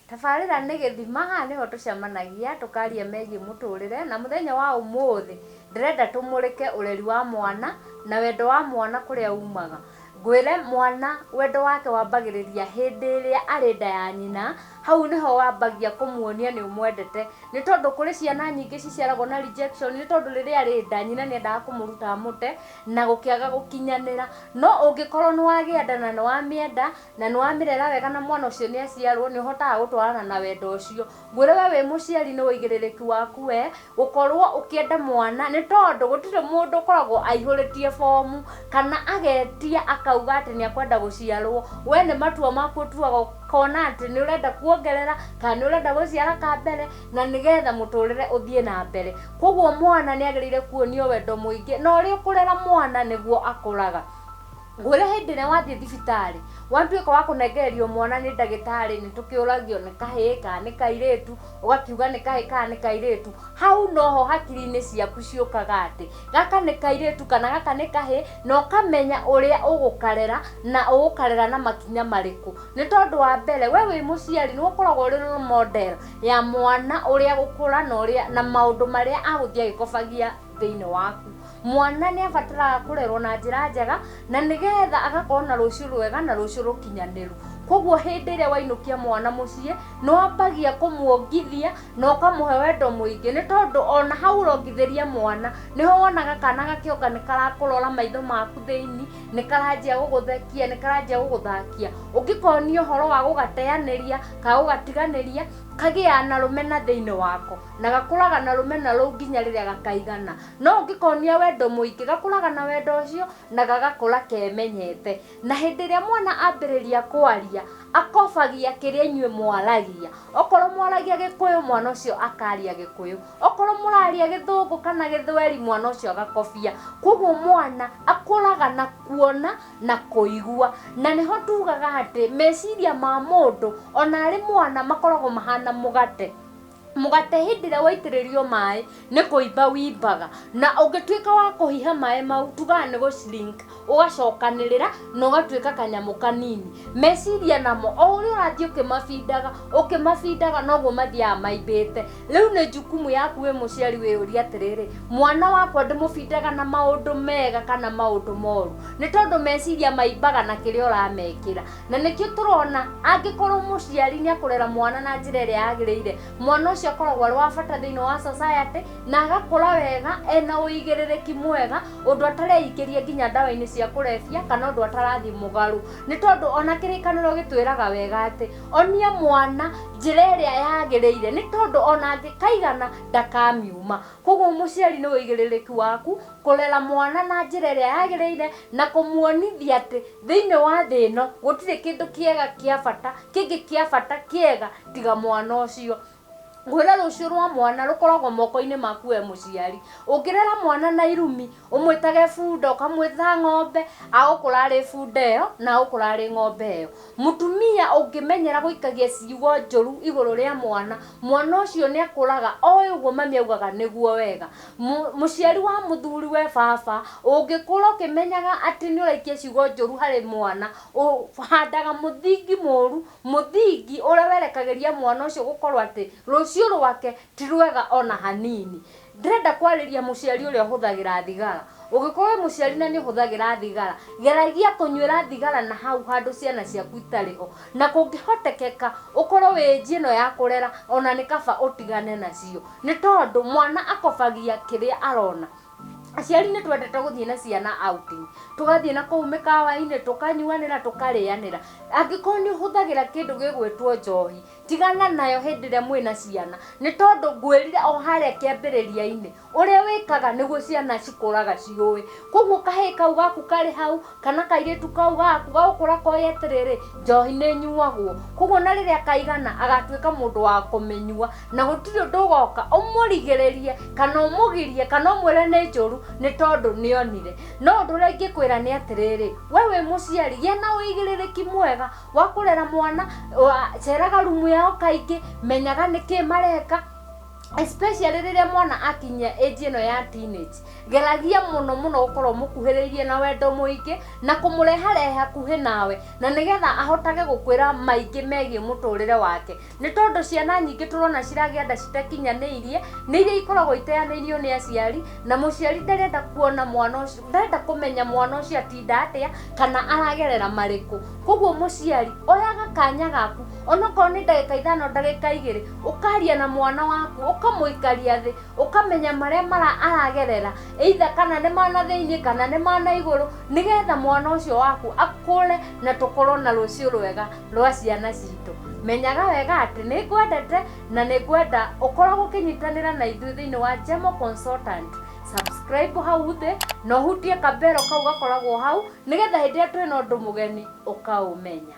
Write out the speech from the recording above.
tabarĩra nĩ gĩthima haha nĩho tũcemanagia tũkaria megiĩ mũtũrĩre na mũthenya wa ũmũthĩ ndĩrenda tũmũrĩke ũreri wa mwana na wendo wa mwana kũrĩa umaga Ngwĩre mwana, wendo wake wambagĩrĩria hĩndĩ ĩrĩa arĩ nda ya nyina, hau nĩho wambagia kũmuonia nĩ ũmwendete. Nĩ tondũ kũrĩ ciana nyingĩ ciciaragwo na rejection, nĩ tondũ rĩrĩa arĩ nda, nyina nĩ endaga kũmũruta amũte, na gũkĩaga gũkinyanĩra. No ũngĩkorwo nĩ wagĩa nda na nĩ wamĩenda, na nĩ wamĩrera wega na mwana ũcio nĩ aciarwo, nĩ ũhotaga gũtwarana na wendo ũcio. Ngwĩre we wĩ mũciari nĩ ũigĩrĩrĩki waku we gũkorwo ũkĩenda mwana nĩ tondũ gũtirĩ mũndũ ũkoragwo aihũrĩtie bomu kana agetia akauga atĩ nĩ akwenda gũciarwo we nĩ matua maku ũtuaga ũkona atĩ nĩ ũrenda kuongerera kana nĩ ũrenda gũciara ka mbere na nĩgetha mũtũrĩre ũthiĩ na mbere koguo mwana nĩ agĩrĩire kuonio wendo mũingĩ na ũrĩa ũkũrera mwana nĩguo akũraga ngwĩre hĩndĩ ĩrĩa wathiĩ thibitarĩ watuĩka wa kũnengererio mwana nĩ ndagĩtarĩ nĩ tũkĩũragio nĩ kahĩĩ kana nĩ kairĩtu ũgakiuga nĩ kahĩĩ kana nĩ kairĩtu hau noho hakiri-inĩ ciaku ciũkaga atĩ gaka nĩ kairĩtu kana gaka nĩ kahĩĩ na ũkamenya ũrĩa ũgũkarera na ũgũkarera na makinya marĩkũ nĩ tondũ wa mbere we wĩ mũciari nĩ ũkoragwo ũrĩ role model ya mwana ũrĩa gũkũra na ũrĩa na maũndũ marĩa agũthiĩ agĩkobagia thĩinĩ waku mwana nĩ abataraga kũrerwo na njĩra njega na nĩgetha agakorwo na rũciũ rwega na rũciũ rũkinyanĩru koguo hĩndĩ ĩrĩa wainũkia mwana mũciĩ nĩ wambagia kũmuongithia na ũkamũhe wendo mũingĩ nĩ tondũ ona hau ũrongithĩria mwana nĩho wonaga kana gakĩonga nĩ karakũrora maitho maku thĩinĩ nĩ karanjia gũgũthekia nĩ karanjia gũgũthakia ũngĩkonio ũhoro wa gũgateanĩria ka gũgatiganĩria kagĩaga na rũmena thĩinĩ wako na gakũraga na rũmena rũu nginya rĩrĩa gakaigana no ũngĩkonia wendo mũingĩ gakũraga na wendo ũcio na gagakũra kemenyete na hĩndĩ ĩrĩa mwana ambĩrĩria kwaria akobagia kĩrĩa inyuĩ mwaragia okorwo mwaragia gĩkũyũ mwana ũcio akaria gĩkũyũ okorwo mũraria gĩthũngũ kana gĩthweri mwana ũcio agakobia koguo mwana akũraga na kuona na kũigua na nĩho tugaga atĩ meciria ma mũndũ ona arĩ mwana makoragwo mahana mũgate mũgate hĩndĩ ĩrĩa waitĩrĩrio maĩ nĩ kũimba wimbaga na ũngĩtuĩka wa kũhiha maĩ mau tugaga nĩ gũcirinka ũgacokanĩrĩra na ũgatuĩka kanyamũ kanini meciria namo o ũrĩa ũrathiĩ ũkĩmabindaga ũkĩmabindaga noguo mathiaga maimbĩte rĩu nĩ jukumu yaku wĩ mũciari wĩyũria atĩrĩrĩ mwana wakwa ndĩmũbindaga na maũndũ mega kana maũndũ moru nĩ tondũ meciria maimbaga na kĩrĩa ũramekĩra na nĩkĩo tũrona angĩkorwo mũciari nĩ akũrera mwana na njĩra ĩrĩa yagĩrĩire mwana ũcio akoragwo arĩ wa bata thĩinĩ wa society na agakũra wega ena ũigĩrĩrĩki mwega ũndũ atareingĩria nginya ndawa-inĩ cia kũrebia kana ũndũ atarathiĩ mũgarũ nĩ tondũ ona kĩrĩkanĩro gĩtwĩraga wega atĩ onia mwana njĩra ĩrĩa yagĩrĩire nĩ tondũ ona angĩkaigana ndakamiuma koguo mũciari nĩ ũigĩrĩrĩki waku kũrera mwana na njĩra ĩrĩa yagĩrĩire na kũmuonithia atĩ thĩinĩ wa thĩ ĩno gũtirĩ kĩndũ kĩega kĩa bata kĩngĩ kĩa bata kĩega tiga mwana ũcio gwĩra rũciũ rwa mwana rũkoragwo moko-inĩ maku we mũciari ũngĩrera mwana na irumi ũmwĩtage bunda ũkamwĩta ng'ombe agũkũra arĩ bunda ĩyo na agũkũra arĩ ng'ombe ĩyo mũtumia ũngĩmenyera gũikagia ciugo njũru igũrũ rĩa mwana mwana ũcio nĩ akũraga oĩ ũguo mami augaga nĩguo wega Mũ, mũciari wa mũthuriwe, baba, ũngĩkũra ũkĩmenyaga atĩ nĩ ũraikia ciugo njũru harĩ mwana, ũhandaga mũthingi mũru, mũthingi ũrĩa werekagĩria mwana ũcio gũkorwo atĩ rũciũ rwake ti rwega ona hanini. Ndĩrenda kwarĩria mũciari ũrĩa ũhũthagĩra thigara. Ũngĩkorwo wĩ mũciari na nĩ ũhũthagĩra thigara, geragia kũnyuĩra thigara na hau handũ ciana ciaku itarĩ ho. Na kũngĩhotekeka ũkorwo wĩ age ĩno ya kũrera, ona nĩ kaba ũtigane nacio. nĩ tondũ mwana akobagia kĩrĩa arona aciari nĩ twendete gũthiĩ na ciana outing tũgathiĩ na kũu mĩkawa-inĩ tũkanyuanĩra tũkarĩanĩra angĩkorwo nĩ ũhũthagĩra kĩndũ gĩgwĩtwo njohi tigana nayo hĩndĩ ĩrĩa mwĩ na ciana nĩ tondũ ngwĩrire o harĩa kĩambĩrĩria-inĩ ũrĩa wĩkaga nĩguo ciana cikũraga ciũĩ koguo kahĩĩ kau gaku karĩ hau kana kairĩtu kau gaku gagũkũra koĩ atĩrĩrĩ njohi nĩ nyuagwo koguo na rĩrĩa kaigana agatuĩka mũndũ wa kũmĩnyua na gũtirĩ ũndũ ũgoka ũmũrigĩrĩrie kana ũmũgirie kana ũmwĩre nĩ njũru nĩ tondũ nĩonire no ũndũ ũrĩa ingĩkwĩra nĩ atĩrĩrĩ we wĩ mũciari gĩa na ũigĩrĩrĩki mwega wa kũrera mwana wa- ceraga rumu yao kaingĩ menyaga nĩkĩ mareka especially rĩrĩa mwana akinyia age ĩno ya teenage geragia mũno mũno gũkorwo mũkuhĩrĩirie na wendo mũingĩ na kũmũreharehe hakuhĩ nawe na nĩgetha ahotage gũkwĩra maingĩ megiĩ mũtũrĩre wake nĩ tondũ ciana nyingĩ tũrona ciragĩa nda citakinyanĩirie nĩ iria ikoragwo iteanĩirio nĩ aciari na mũciari ndarenda kuona mwana ũcio ndarenda kũmenya mwana ũcio atinda atĩa kana aragerera marĩkũ koguo mũciari oyaga kanya gaku onokorwo nĩ ndagĩka ithano ndagĩka igĩrĩ ũkaria na mwana waku ũkamũikaria thĩ ũkamenya marĩa mara aragerera either kana nĩ mana thĩinĩ kana nĩ mana igũrũ nĩgetha mwana ũcio waku akũre na tũkorwo na rũciũ rwega rwa ciana citũ menyaga wega atĩ nĩ ngwendete na nĩ ngwenda ũkoragwo ũkĩnyitanĩra na ithuĩ thĩinĩ wa Jemo Consultant subscribe hau thĩ na ũhutie kambero kau gakoragwo hau nĩgetha hĩndĩ ĩrĩa twĩna ũndũ mũgeni ũkaũmenya